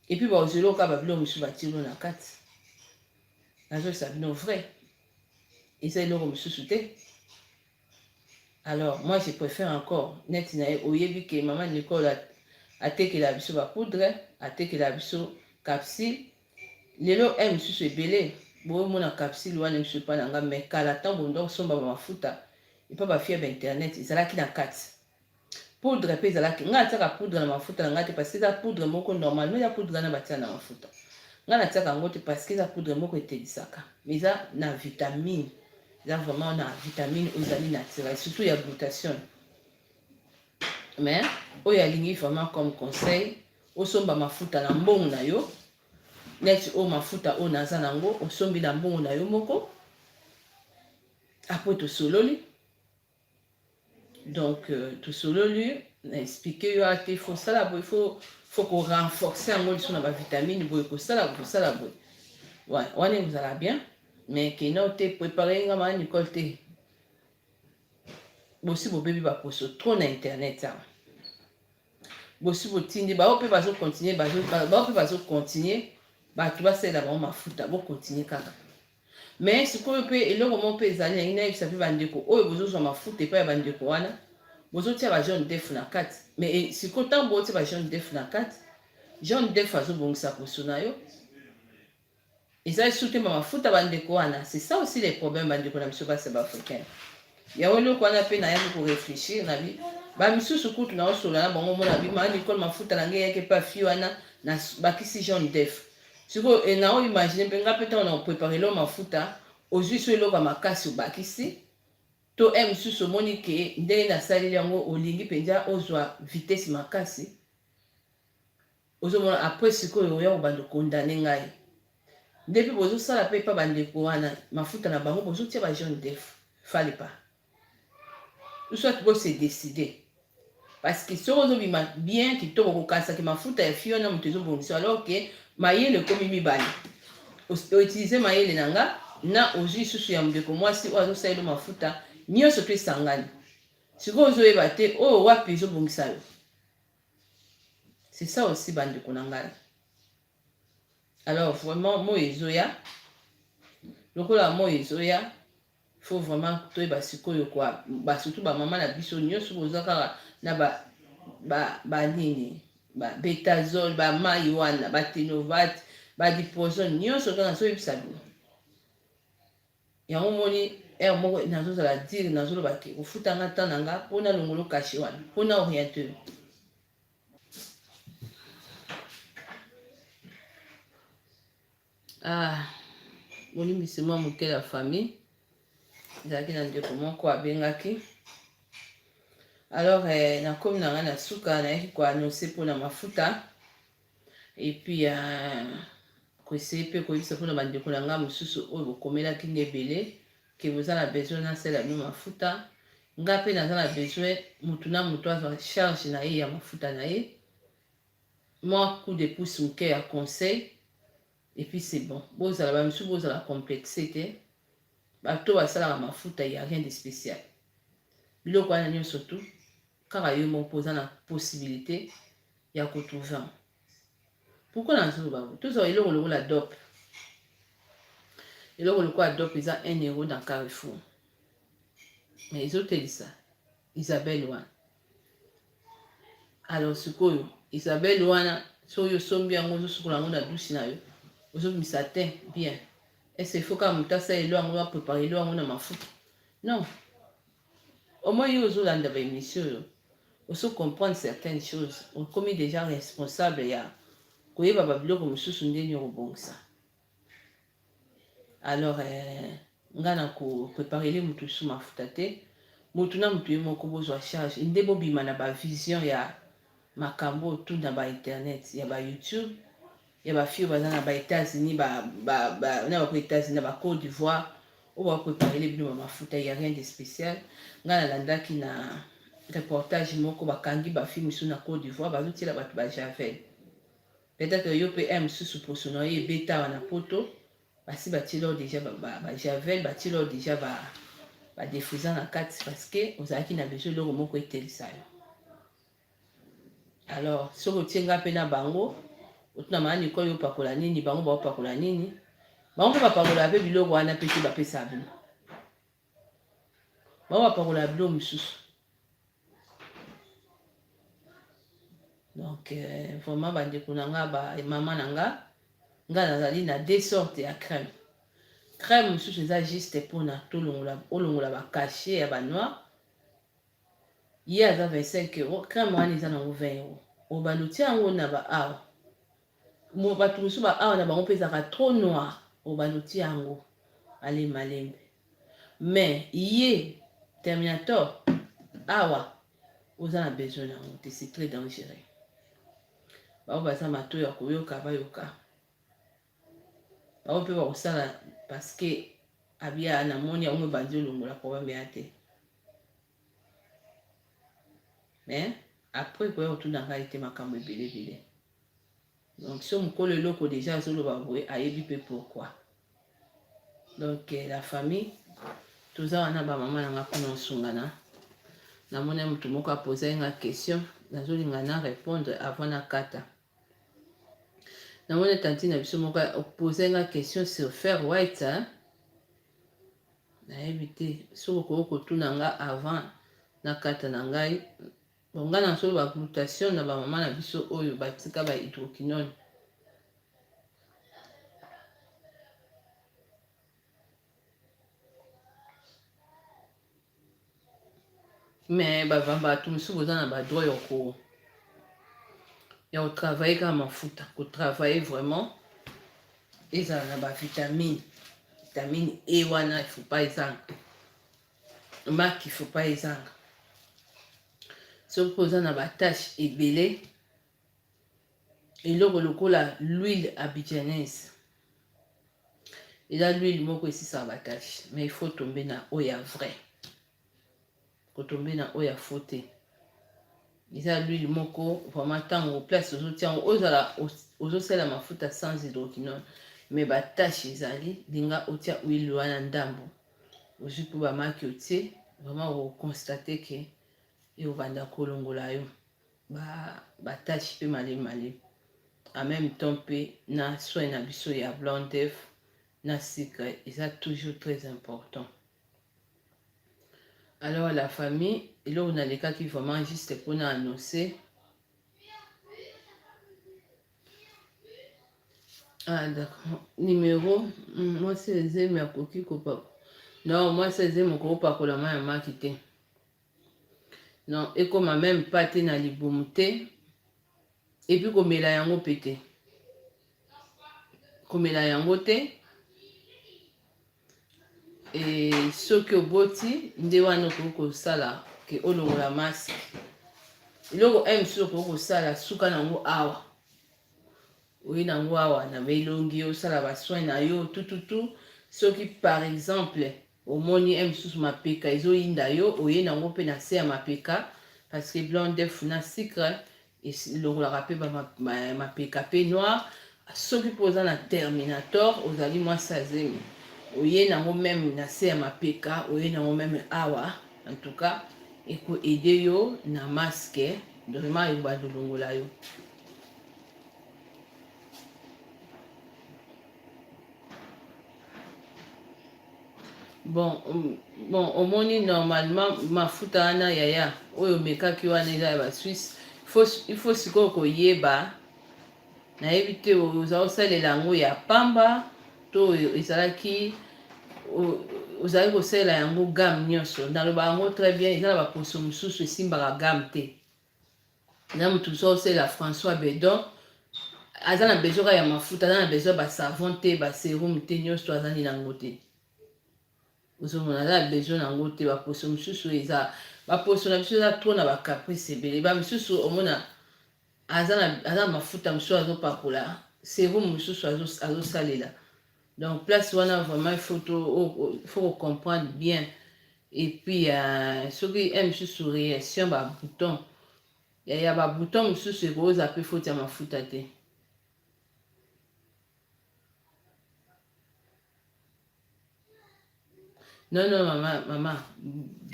[SPEAKER 1] Et puis bakozwela yo kaka ba biloko mosusu batieli yo na kati. Nazolisa bino vrai. Eza eloko mosusu te. Alors moi je préfère encore neti na ye oyebi ke mama Nicole atekela biso ba poudre, atekela biso capsule Lelo heure mususu ebele bo mona capsule wana lisusu epa na nga mais kala tango bolinga ko somba ba mafuta epa ba fille ya ba internet ezalaki na kati. Poudre pe ezalaki, nga na tiaka poudre na mafuta na nga te parce que eza poudre moko normalement eza poudre wana ba tia na mafuta. Nga na tiaka yango te parce que eza poudre moko etedisaka mais eza na vitamine. Eza vraiment na vitamine oyo ezali naturelle surtout ya glutation. mais oyo alingi vraiment comme conseil osomba mafuta na mbongo na yo neti oyo mafuta oyo naza na yango osombi na mbongo na yo moko apres tosololi donc euh, tosololi na explike yo ate fo sala boye fo fo korenforce yango liso na bavitamine boye kosala kosala boye wana ekozala bien mais kena te prepare nga ma nicole te bosi bobebi baposo trop na internet awa bosi botindi bao mpe bazocontinue bao mpe bazocontinue bato basalela bango mafuta bocontinue kaka me sikoyo mpe eloko moko mpe ezali yangi nayebisa mpe bandeko oyo bozozwa mafuta epai ya bandeko wana bozotia ba jaune def na kati me eh, sikoyo ntango botia ba jaune def na kati jaune def azobongisa poso na yo Eza esuki ma mafuta ba ndeko wana c'est ça aussi les problèmes ba ndeko na biso basi ba africaine yango eloko wana pe na yaki ko reflechir na bi ba misusu kutu na osola na bango mona bi ma Nicole mafuta na ngai yaki pa fi wana na bakisi jaune d'œuf siko e na o imaginer pe nga pe tango na prepare lo mafuta ozui so eloko ya makasi obakisi to e misusu omoni ke ndenge na saleli yango olingi penza ozwa vitesse makasi Ozo mona après sikoyo oya ko bando condamne ngai nde pe bozo sala pe epa ba ndeko wana mafuta na bango bozo tia ba jaune d'oeuf fallait pas ou soit bo se decider parce que soki ozo bima bien kitoko ko kanisa ke mafuta ya fille wana moto ezo bongisa alors que mayele ekomi mibale o utiliser mayele na nga na ozui susu ya ndeko mwasi oyo azo salelo mafuta nionso pe esangani sikoyo ozo yeba te oyo wapi ezo bongisa yo C'est ça aussi bande Konangal. Alors vraiment moi ezoya lokola moi ezoya faut vraiment toyeba sikoyo kwa ba surtout ba maman na biso nyonso boza kaka na ba ba ba nini ba betazole ba mai wana ba tenovate ba dipoison nyonso kaka nazoyebisa bino Yango omoni heure moko nazo zala dire nazo loba ke kofuta nga temps na nga po na longolo cachet wana po na oriente yo. Ah, bolimbisi mwa moke ya famille ezalaki na ndeko moko abengaki alors eh, nakomi na ngai na suka nayaki koanonse mpo na mafuta Et puis euh, koessaye mpe koyebisa mpona bandeko na ngai mosusu oyo bokomelaki nde ebele ke boza na besoin nasala bino mafuta nga mpe naza na besoin motu na motu azwa charge na ye ya mafuta na ye mwa coup de pouce moke ya conseil epuis c'est bon bozala bamisusu bozala complexe te bato basalaka mafuta ya rien de spécial biloko wana nyonso tu Kaka yo moko oza na possibilite ya ko trouver yango. Pourquoi nazoloba yango? Tozwa eloko lokola dop. Eloko lokola dop eza 1 euro dans Carrefour. Mais ezotelisa Isabelle wana. Alors sikoyo Isabelle wana soki osombi yango ozosukola yango na dusi na yo ozobimisa te bien est ce que faut kaka moto asala elo yango apreparelo yango na mafuta non Au moins yo ozo landa ba emission oyo oso comprendre certaines choses okomi dejà responsable ya koyeba ba biloko mususu ndeni oko bongisa alors eh, nga na ko preparele mutu lisusu mafuta te mutu na mutu ye moko bozwa charge nde bobima na ba vision ya makambo tout na ba internet ya ba youtube ya ba fille baza na ba etats unis ba ba ba na ba ko etats unis na ba cote d'ivoire oyo ba preparele bino ba mafuta ya rien de spécial ngai nalandaki na reportage moko bakangi ba fille mosusu na cote d'ivoire bazotiela bato ba javel peut-être yo mpe un mosusu poso na yo ebeta awa na poto basi batiela yo déjà ba javel batiela yo déjà ba badefriza na kati parce que ozalaki na besoin eloko moko etelisa yo alors soki otie nga mpe na bango otuna maa nikoi opakola nini bango baopakola nini bango mpe bapakola mpe biloko wana mpe te bapesa bino bango bapakola bilo mosusu donc euh, vraiment bandeko na nga bamama na nga nga nazali na deux sorte ya crème crème mosusu eza juste mpona tolongola olongola bacachet ya banoir ye aza 25 euros crème wana eza nango 20 euros obanda otia yango na ba awa bato mosusu ba awa na bango mpe ezalaka trop noir obanda otia yango ale malembe mais ye terminator awa oza na besoin yango te c'est très dangereux baoyo baza matoi ya koyoka bayoka bango mpe bakosala paske abia namoni yango ebandi olongola problème ya te mais après ekoya kotuna ngai te makambo ebele ebele donc so mokolo eloko deja azoloba boye ayebi mpe pourquoi donc eh, la famille toza wana bamama na nga mpona osungana namoni moto moko apozai nga question nazolinga na répondre avant nakata Na moni tantine na biso moko opose nga question sur ferre white hein? nayebi te soki okoki kotuna nga avant na kata na ngai bonga na solo ba glutation na bamama na biso oyo batika ba hydroquinone mais bavambatu mosusu boza na badroit ya ko ya kotravaille kaka mafuta kotravaille vraiment ezala na bavitamine vitamine e wana faut pas ezanga maki faut pas ezanga soki oza na batache ebele eloko lokola l'huile abidjanaise eza l'huile moko esisaka batache mais il faut tombe na oyo ya vrai kotombe na oyo ya faux te eza l'huile moko vraiment ntango place ozotia yango ozala ozosala mafuta sans hydroquinone mais batache ezali linga otia huile wana ndambo ozwi mpo bamaki otie vraiment okonstate ke ekobanda kolongola yo ba ba tâche pe male male en même temps pe na soin na biso ya blanc d'œuf na sucre eza toujours très important alors la famille eloko nalekaki vraiment juste mpona annonce ah d'accord numéro hmm, mwasi ezemi akoki kopakola non mwasi ezemi okoki kopakola mai ya maki te Non, ekoma meme pas te na libumu te. Et puis komela yango pe te. Komela yango te. Et soki oboti nde wana okoki kosala ke olongola masque. Eloko oyo mosusu okoki kosala suka na yango awa. Oye na yango awa na elongi osala ba soins na yo tututu soki par exemple Omoni heure mususu mapeka ezo yinda yo oye na ngo pe na se ya mapeka parce que blanc d'oeuf na sucre elongolaka pe ba mapeka pe noir soki pe oza na terminator ozali mwasi ya zemi oye na ngo meme na se ya mapeka oye na ngo meme awa en tout cas eko aider yo na masque vraiment ebando longola yo bon bon omoni normalement mafuta wana yaya oyo omekaki wana eza ya basuisse il faut sikoyo koyeba nayebi te oza kosalela yango ya pamba to ezalaki ozali kosalela yango game nyonso naloba yango très bien eza na baposo mosusu esimbaka game te na mutu so sela François Bedon aza na besoin ka ya mafuta aza na besoin ba savon te ba serum te nionso to azangi na ngo te ozomona aza na besoin na ngo te ba poso mususu eza ba poso na biso eza trop na ba caprice ebele ba mususu omona aza na aza na mafuta mususu azopakola serum mususu azosalela azo Donc place wana vraiment il faut to il faut ko comprendre bien et puis uh, soki un mosusu réaction ba bouton ya ya ba bouton mosusu ekoza pe faute ya mafuta te non non mama mama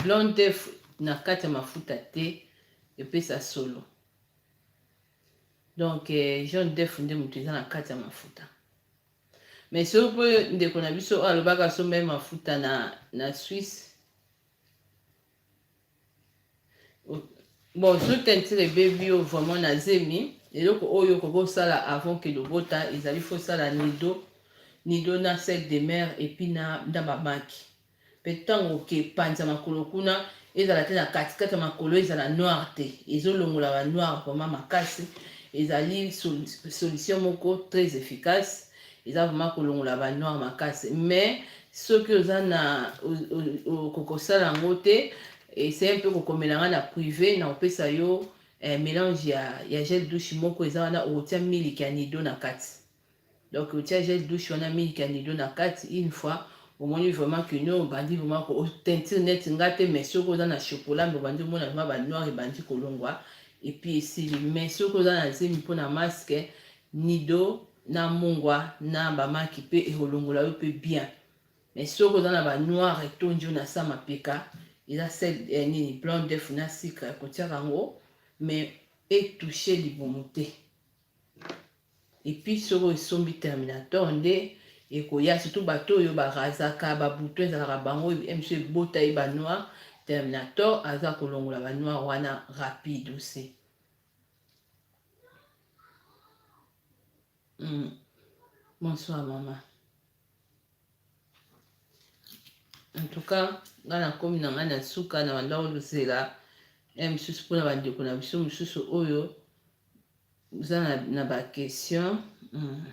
[SPEAKER 1] blonde te na kati ya mafuta te epesa solo donc eh, jaune def nde moto eza na kati ya mafuta Mais soki mpo ndeko na biso oyo alobaka asomba ye mafuta na, na Suisse bon soki tentire ebebi yo vraiment na zemi eloko oyo okoki osala avant ke lobota ezali fosala nido nido na sel de mer epuis na, na bamaki Mpe ntango oke, panza makolo kuna, ezala te na katikati ya makolo ezala noir te, ezolongola ba noir vraiment makasi, ezali solution moko très efficace, eza vraiment kolongola ba noir makasi, mais soki oza na okokosala yango te, essaye mpe kokomela nga na prive na kopesa yo eh, melange ya, ya gel douche moko eza wana, okotia miliki ya nido na kati Donc otia gel douche wana milk ya nido na kati une fois omoni vraiment que no obandi vraiment ko teinture net nga te mais soki oza na chocolat mais obandi omona vraiment ba noir ebandi kolongwa et puis esili mais soki oza na zemi mpo na masque nido na mungwa na bamaki mpe ekolongola yo mpe bien mais soki oza na ba noir etondi yo na sa mapeka eza sel eh, nini blanc def na sucre kotiaka yango mais etouche libumu te epuis soko esombi terminator nde ekoya surtout bato oyo barazaka babuto ezalaka bango mso ebota ye banoir terminator aza kolongola banoir wana rapide ose mm. bonsoir mama en tout cas ngai nakomi na ngai na suka na bandako lozela ya misusu mpona bandeko na biso mosusu oyo Oza na, na ba question mm.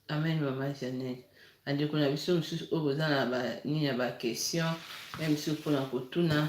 [SPEAKER 1] Amen mama Janelle. Bandeko na biso mosusu oyo boza na ba nini ya ba question ya biso mpona kotuna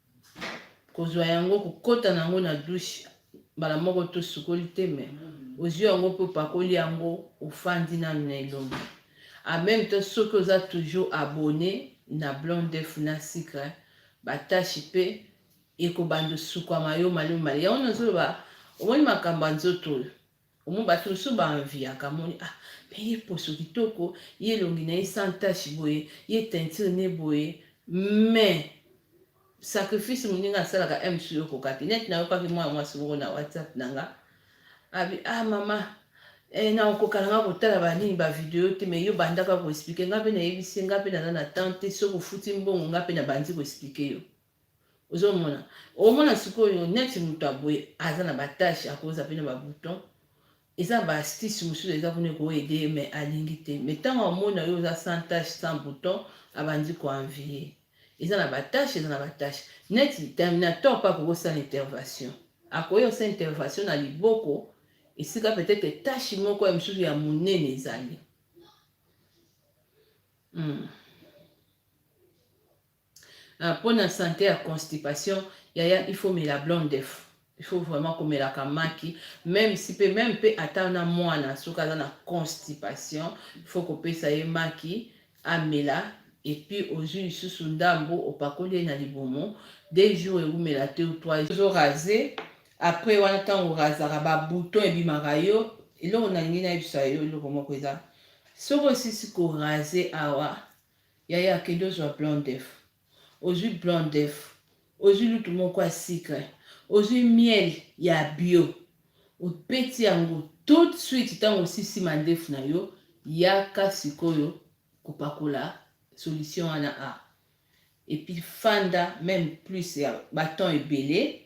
[SPEAKER 1] kozwa yango kokota na yango na douche mbala moko to sukoli te me ozwi yango mpe opakoli yango ofandi nanu na elongi en même temps soki oza toujours abonné na blanc d'œuf na sucre batashi mpe ekobanda osukwama yo malamu malamu yango nazoloba omoni makambo ya nzoto oyo Omoni batu mosusu ba enviaka amoni ah mais ye poso kitoko, ye elongi na ye sans tache boye, ye teinture ne boye mais sacrifice moninga asalaka heure mosusu yo okoka te. Neti nayokaki mwana mwasi moko na WhatsApp na nga abi ah mama eh, na okoka na nga kotala ba nini ba video te mais yo bandaka ko expliquer nga pe nayebisi ye nga pe naza na temps te, soki ofuti mbongo nga pe nabandi ko expliquer yo. ozomona omona sikoyo neti moto aboye aza na batashe akoza mpe na babouton eza baastise mosusu eza kuna ekoede ye mai alingi te mai ntango amona yo oza sans tache sans bouton abandi koenvie eza na batashe eza na batashe neti terminator mpe akoki osala intervention akoki osala intervention na liboko esika peut-être tashe moko ya mosusu ya monene ezali mm. Ah pona sante ya constipation yaya il faut mela blanc d'oeuf il faut vraiment komelaka maki meme si pe meme pe ata na mwana soki aza na constipation il faut kopesa ye maki amela epuis ozwi lisusu ndambo opakoli ye na libumu deux jours ewumela te ou trois ozo rase après wana ntango orazaka babouton ebimaka yo eloko nalingi nayebisa yo eloko moko eza soki osisi korase awa Yaya kende ozua blanc d'oeuf ozui blanc d'oeuf ozui lutu moko ya sucre ozui miel ya bio obeti yango tout de suite tango osisi mandefu na yo yaka sikoyo kopakola solution wana a epuis fanda meme plus ya ba temps ebele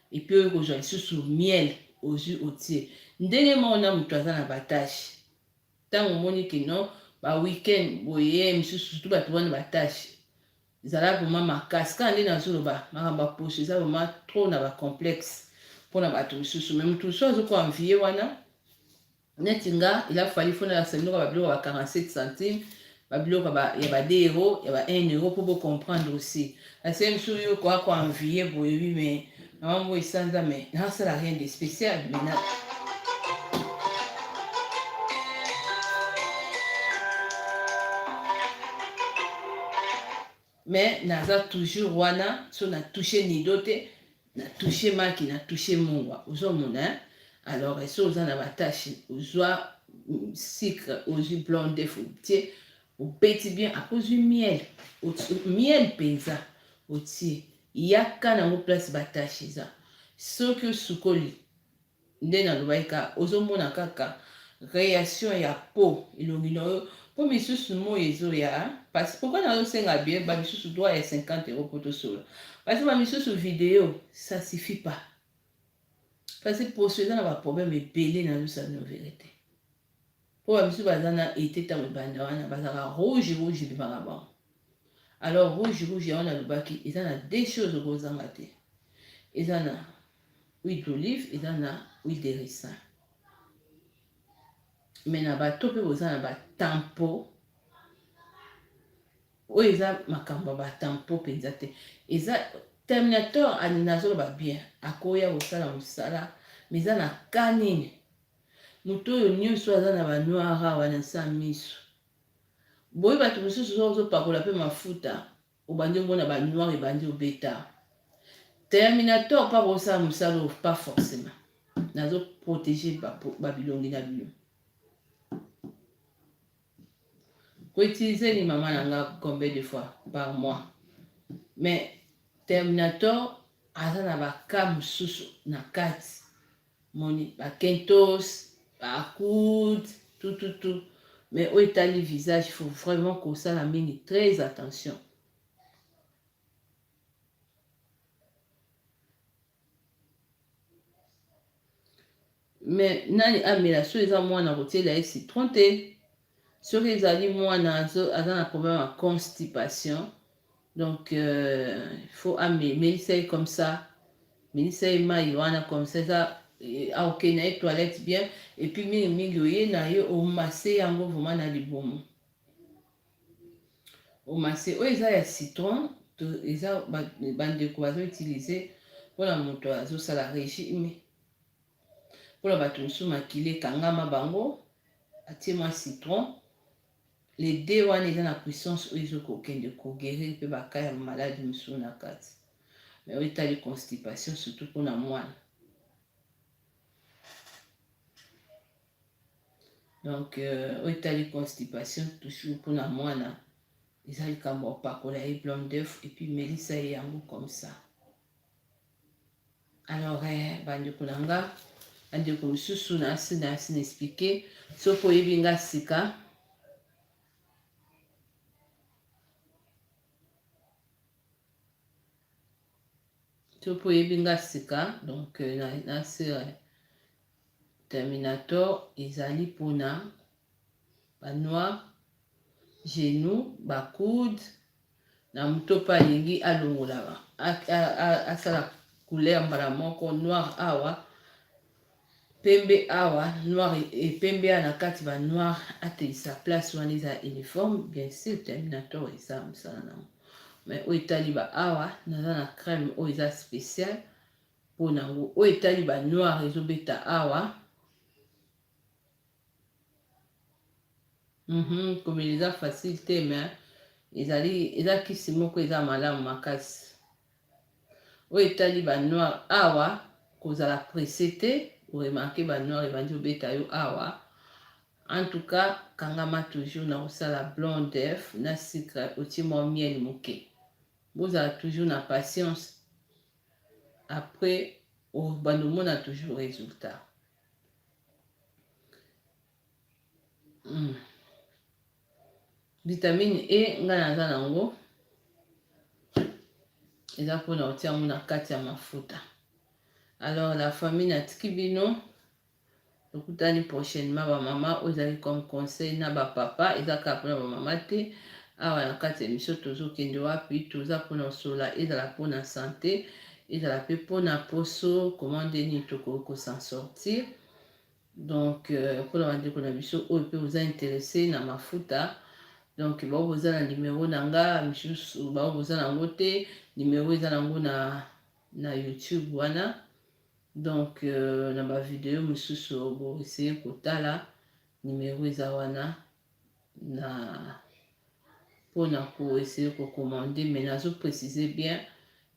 [SPEAKER 1] epuis oye kozwa lisusu miel ozwi otie ndenge moko na moto aza na batashe ntango omoni ke non baweekend boye misusu sutu bato wana batashe zala vraimen makasi kaka nde nazoloba makambo ya poso eza vraimen trop na bacomplexe mpo na bato misusu me moto mosusu azokoanvie wana neti nga il a fallu fo nalakisa bino ba biloko ya ba 47 centimes ba biloko ya ba 2 euro ya ba 1 euro mpo bo comprendre aussi ase mosusu yo koya ko envie boye wi mais mama mbo esanza mais nasala rien de spécial mais Mais naza toujours wana so na touche nido te na touche maki na touche mungwa ozo mona hein alors esi oza na ba tâche ozwa sucre ozwi blanc d'œuf otie obeti bien après ozwi miel miel penza otie yaka nango place ba tâche eza soki osukoli Nde nalobaki kaka ozo mona kaka reaction ya po elongi na yo po misusu moyi ezo ya pasi pourquoi nazo senga bien ba misusu droit ya 50 euros po to solola pasi ba misusu video ça suffit pas pasi poso eza na ba problème ebele nazo sa bino verite. Po ba misusu baza na ete tango ebanda wana bazalaka rouge rouge ebimaka bango alors rouge rouge yango nalobaki eza na deux choses oko zanga te eza na huile d'olive eza na huile de ricin mais na bato pe boza na ba tempo oyo eza makambo ya ba tempo penza te eza terminator nazoloba bien akoya kosala mosala mais eza na cas nini Moto oyo nioso aza na ba noir awa na nse ya miso. Boye bato mosusu soki ozo pakola pe mafuta obandi omona ba noir ebandi obeta. Terminator pe akoki kosala mosala oyo pas forcement. Nazo proteger ba bilongi na bino. Ko utiliser ni maman na nga combien de fois par mois. Mais Terminator aza na ba cas mosusu na kati Omoni ba kentos, ba akoud, tout tout tout mais oyo etali visage il faut vraiment kosala mingi très attention. Mais nani amela soki eza mwana kotiela ye citron te. Soki ezali mwana aza na problème ya constipation donc il faut amelisa ye comme ça melisa ye mai wana comme ça eza aokende na ye toilette bien epuis mingi mingi oye na ye omase yango vraimen na libumu omase oyo eza ya citron eza bandeko bazo utilize mpona moto azosala régime Mpo na bato mosusu makila ekangama bango, atie mwa citron. Le de wana eza na puissance oyo ezo kokende ko guerir mpe ba cas ya maladi mosusu na kati. Mais oyo etali constipation surtout mpo na mwana. Donc euh, oyo etali constipation toujours mpo na mwana eza likambo ya kopakola ye blanc d'œuf epuis melisa ye yango comme ça. Alors, eh, bandeko na nga bandeko mosusu nasi nasi na explike soki oyebi nga sika soki oyebi nga sika donc euh, na, na sera euh, terminator ezali mpona banoir genou bakude na moto pe alingi alongola asala couleur mbala moko noir awa pembe awa noir e pembe awa na kati ba noir ateisa place wana eza uniforme bien sûr terminator eza mosala nango mais oyo etali ba awa naza na crème oyo eza spécial mpo nango oyo etali ba noir ezobeta awa Mhm, komela eza facile te mais ezali eza kisi moko eza malamu makasi oyo etali ba noir awa kozala presse te oremarke ba noir ebandi obeta yo awa en tout cas kangama toujours na kosala blanc d'œuf na sucre otie mwa miel moke bozala toujours na patience après obanda omona toujours résultat Mm. Vitamine E ngai naza na yango eza mpona kotia yango na kati ya mafuta. Alors la famille natiki bino tokutani prochainement bamama oyo ezali comme conseil na bapapa eza kaka mpona bamama te awa na kati ya emission tozokende wapi toza mpona osola ezala mpona sante ezala pe pona poso comment nde nini tokoki ko s'en sortir donc euh, pona bandeko na biso oyo pe boza interesse na mafuta donc bao boza na numero na nga misusu bao boza na yango te numero eza na yango na na youtube wana donc euh, na bavideo mosusu boeseye kotala numero eza wana na pona ko essayer ko commander mais nazo préciser bien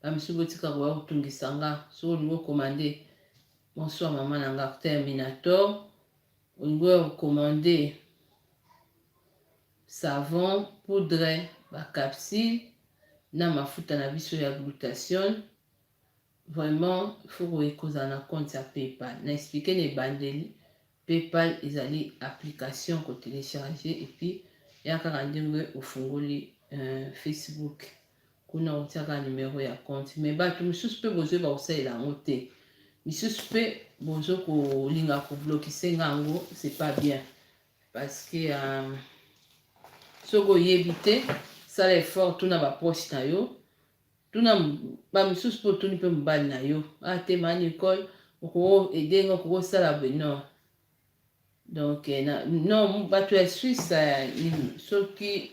[SPEAKER 1] ba misusu botika koya kotungisa nga soki olingi okomande bonsoir mama na nga terminator olingi oya kokomande savon poudre bacapsule na mafuta na biso ya glutation Vraiment il faut koye kozala na compte ya PayPal. Na expliquer na ebandeli PayPal ezali application ko telecharger et puis ya kaka ndenge ofungoli euh, Facebook kuna otiaka numero ya compte mais bato mosusu mpe bozwi bakosalela yango te misusu mpe bozo kolinga koblokise nga yango c'est pas bien parce que euh, soki oyebi te sala effort tuna bapoche na yo Tuna ba misusu pe otuni pe mobali na yo ah te ma Nicole oko aider nga oko sala boye non donc na non batu ya Suisse soki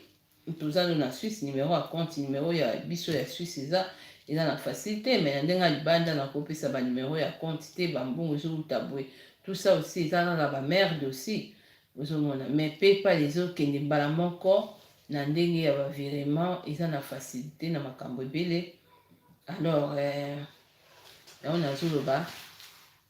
[SPEAKER 1] toza no na Suisse numero ya compte numero ya biso ya Suisse eza eza na facile te mais na ndenge ya libanda na kopesa ba numero ya compte te ba mbongo ezowuta boye tout ça aussi eza kaka ba merde aussi Ozo mona mais paypal ezo kende mbala moko na ndenge ya ba virement eza na facilite na makambo ebele alors yango nazo loba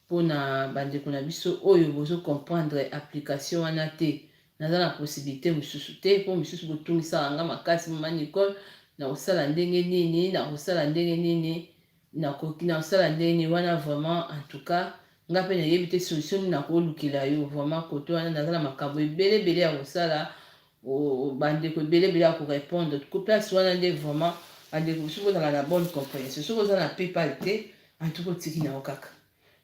[SPEAKER 1] pona ba ndeko na biso oyo bozo comprendre application wana te naza na possibilité mosusu te po mosusu botungisaka nga makasi mama Nicole na kosala ndenge nini na kosala ndenge nini Nakoki na sala ndenge nini wana vraiment en tout cas nga pe na yebi te solution nini na ko lukela yo vraiment cote wana naza na makambu ebele ebele ya kosala ooh ba ndeko ebele ebele ya ko repondre ko place wana nde vraiment ba ndeko soki ozalaka na bonne comprehension soki oza na paypal te en tout cas otiki na yo kaka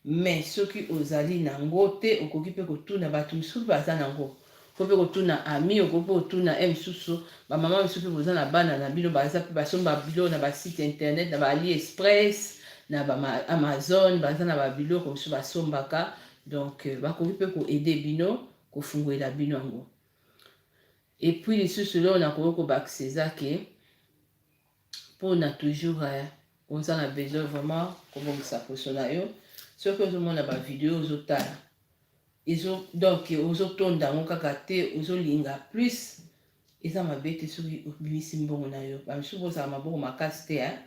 [SPEAKER 1] Mais soki ozali na ngo te okoki pe kotuna batu misusu pe baza na ngo. Okoki pe kotuna ami, okoki pe kotuna he misusu ba maman misusu pe boza na bana na bino baza pe basomba biloko na ba site internet na ba ali express na ba amazone baza na ba biloko misusu basombaka donc bakoki pe ko aider bino kofunguela bino yango. Et puis lisusu eloko nakoki kobakisa eza ke. pona toujours eh, oza na besoin vraiment kobongisa poso na yo soki ozomona ba video ozotala ezo donc ozotonda yango kaka te ozolinga plus eza mabe te soki obimisi mbongo na yo bamisusu bozala maboko makasi te eh?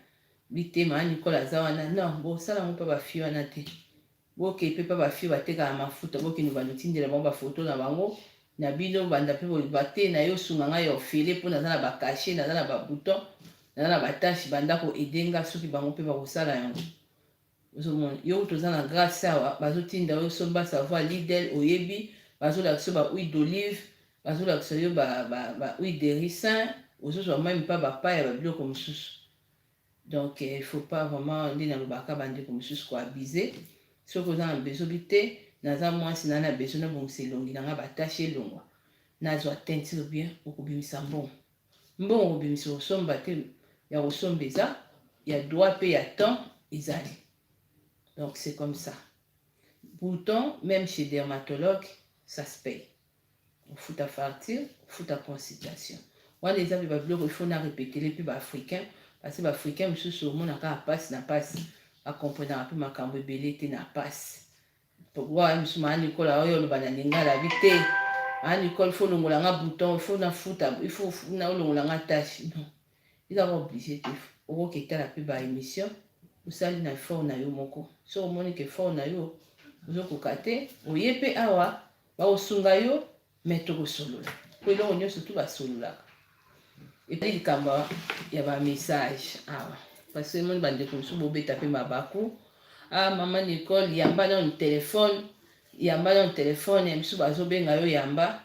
[SPEAKER 1] bitema nicole aza wana non bosala yango mpe bafille wana te Boke pe pa ba fille batekaka mafuta bokende ba mitindela bango ba photo na bango na bino banda pe boloba te na yo sunga nga ya ofele po naza na ba cache naza na ba bouton naza na ba tache banda ko aide nga soki bango pe bakosala yango ozomona yo kutu oza na grace awa bazotinda yo somba savoir lidel oyebi bazolakisa yo ba huile d'olive bazolakisa yo ba, ba, ba huile de ricin ozozwa meme pa bapaya ba biloko mosusu Donc il faut pas vraiment nde nalobaka ba ndeko mosusu ko abuse soki oza na besoin bi te naza mwasi na na besoin na bongisa elongi na nga ba tache elongwa nazwa teinture bien okobimisa mbongo mbongo okobimisa osomba te ya kosomba eza ya droit pe ya temps ezali donc c'est comme ça bouton même chez dermatologue ça se paye kofuta facture kofuta consultation wana eza mpe babiloko ifo na repetele mpe baafricain parce baafricain mosusu omonaka mpasi na mpasi bakomprenaka mpe makambo ebele te na mpasi pourquoi mosusu maa nikola oyo oloba na lingala bi te maa nikola ifo olongola nga bouton ifo nafuta ifo olongola nga tâche non ezaka oblige te okoki etala mpe ba émission osali na effort na yo moko soki omoni ke effort na yo ozokoka te oye mpe awa bakosunga yo me tokosolola mpo eloko nyonso tu basololaka etali likambo ya bamessage awa parce que emoni bandeko mosusu bobeta mpe mabaku ah mama nicole yamba nano telefone yamba nano telefone ya misu bazobenga yo yamba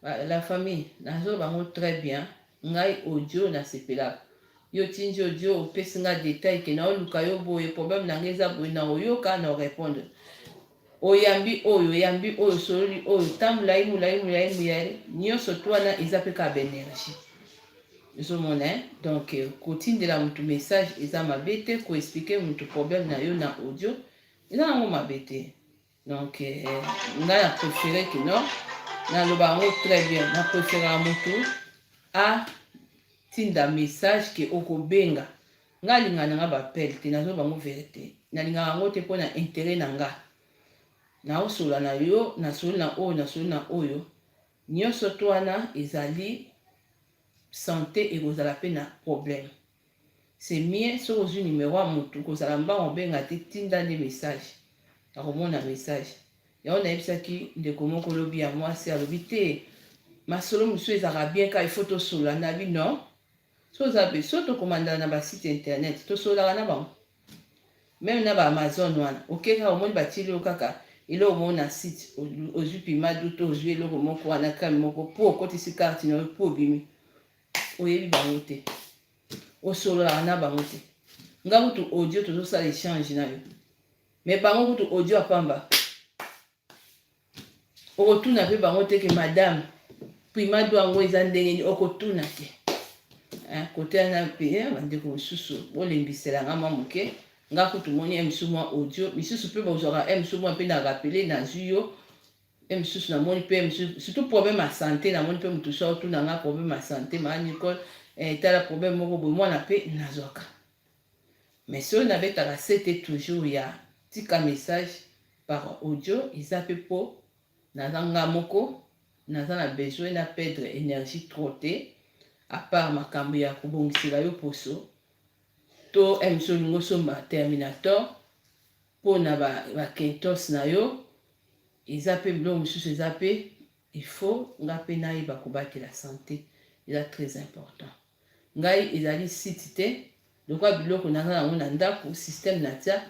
[SPEAKER 1] la famille nazoloba yango très bien ngai audio nasepelaka yo tindi audio opesi ngai detail ke naoluka yo boye problème na ngai eza boye na oyoka na orépondre Oyambi oyo, oyambi oyo, osololi oyo, temps mulayi, mulayi, mulayi, mulayi, nionso tout wana eza pe kaka ba energie. Ozo mona hein? Donc ko tindela mutu message eza mabe te, ko expliquer mutu problème na yo na audio eza nango mabe te. Donc nga na prefere que non, na loba yango très bien, na prefere mutu a tinda message que oko benga Nga alingaka nanga ba appel te nazo bango verite nalingaka yango te pona interet nanga nao sola na yo na soli na oyo na soli na oyo nioso to wana ezali sante ekozala pe na problème c'est mieux soki ozwi numero ya mutu kozala mbanga obenga te tinda nde message akomona message yango nayebisaki ndeko moko lobi ya mwasi alobi te masolo mosusu ezalaka bien ka il faut tosola nabi non Soki oza be, soki to commandaka na ba site internet, to sololaka na bango. Meme na ba Amazon wana, oke kaka omoni ba tieli yo kaka eloko moko na site, ozwi pima d'eau to ozwi eloko moko wana crème moko, po okotisi carte na yo, po obimi. Oyebi bango te. Osololaka na bango te. Nga kutu audio tozo sala echange na yo. Mais bango kutu audio ya pamba. okotuna mpe bango te ke madame pima do yango eza ndenge nini okotuna te eh, kote wana mpe eh, bandeko mosusu bolembisela nga mwa moke nga kutu moni ya mosusu mwa audio misusu mpe bozwaka ya mosusu mwa mpe na rapele nazwi yo ya mosusu namoni mpe surtout problème ya sante namoni mpe motu so otuna nga problème ya sante maa nicole eh, tala problème moko boye mwana mpe nazwaka Mais soki na betaka sete toujours ya tika message par audio eza pe po naza nga moko naza na besoin na perdre energie trop te a part makambu ya ko bongisela yo poso to MC olingi osomba terminator po na ba, ba kentos na yo eza pe biloko mosusu eza pe il faut nga pe nayeba kobatela sante eza très important Ngai ezali site te lokola biloko naza nango na ndako système natia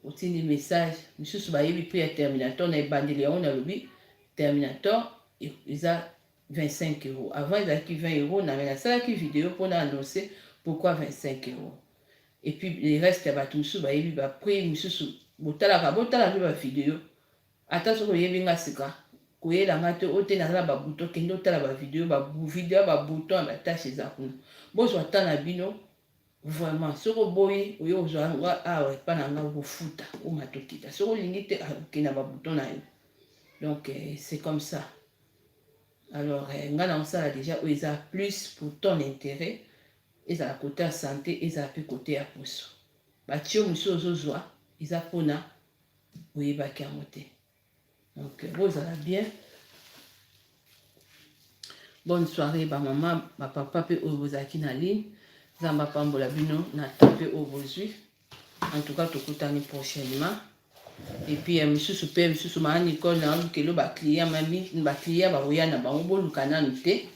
[SPEAKER 1] otindi message misusu bayebi prix ya terminator na ebandeli yango nalobi terminator e-, eza 25 euro avant ezalaki 20 euro na me nasalaki video mpo na annonce pourquoi 25 euro epuis le reste ya bato mosusu bayebi baprix mosusu botalaka botala mpe bavideo Ata soki oyebi nga sika koyela nga te oyo te naza na ba bouton kende otala ba video ba video ya ba bouton ya ba tache eza kuna bozwa temps na bino vraiment soki oboyi oye kozwa nga awa epa na nga okofuta omata okita soki olingi te okenda ba bouton na yo donc euh, c'est comme ça alors euh, nga na osala déjà oyo eza plus pour ton intérêt ezala kote ya sante ezala mpe kote ya poso batio mosusu ozozwa eza mpona oyebaki yango te donc bozala bien bonne soirée bamama bapapa mpe oyo bozalaki na ligne nzambe apambola bino na temps mpe oyo bozwi en tout cas tokutani prochainement epuis ya misusu mpe misusu maa nicole na lukelo bacliya mami bacliya bakoya na bango boluka nanu te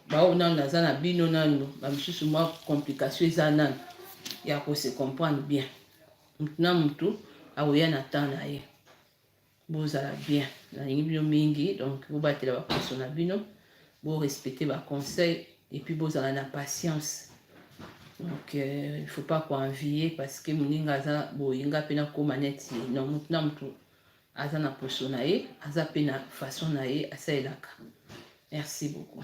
[SPEAKER 1] baoyo nanu naza na bino nanu bamisusu mwa complication eza nanu ya kose comprendre bien mutu na mutu akoya na temps na ye bozala bien nalingi bino mingi donc bobatela baposo na bino borespecte baconseil epuis bozala na patience donc euh, il faut pas koenvie parce que moninga aza boye nga mpe nakóma neti ye non motu na motu aza na poso na ye aza mpe na façon na ye asalelaka merci beaucoup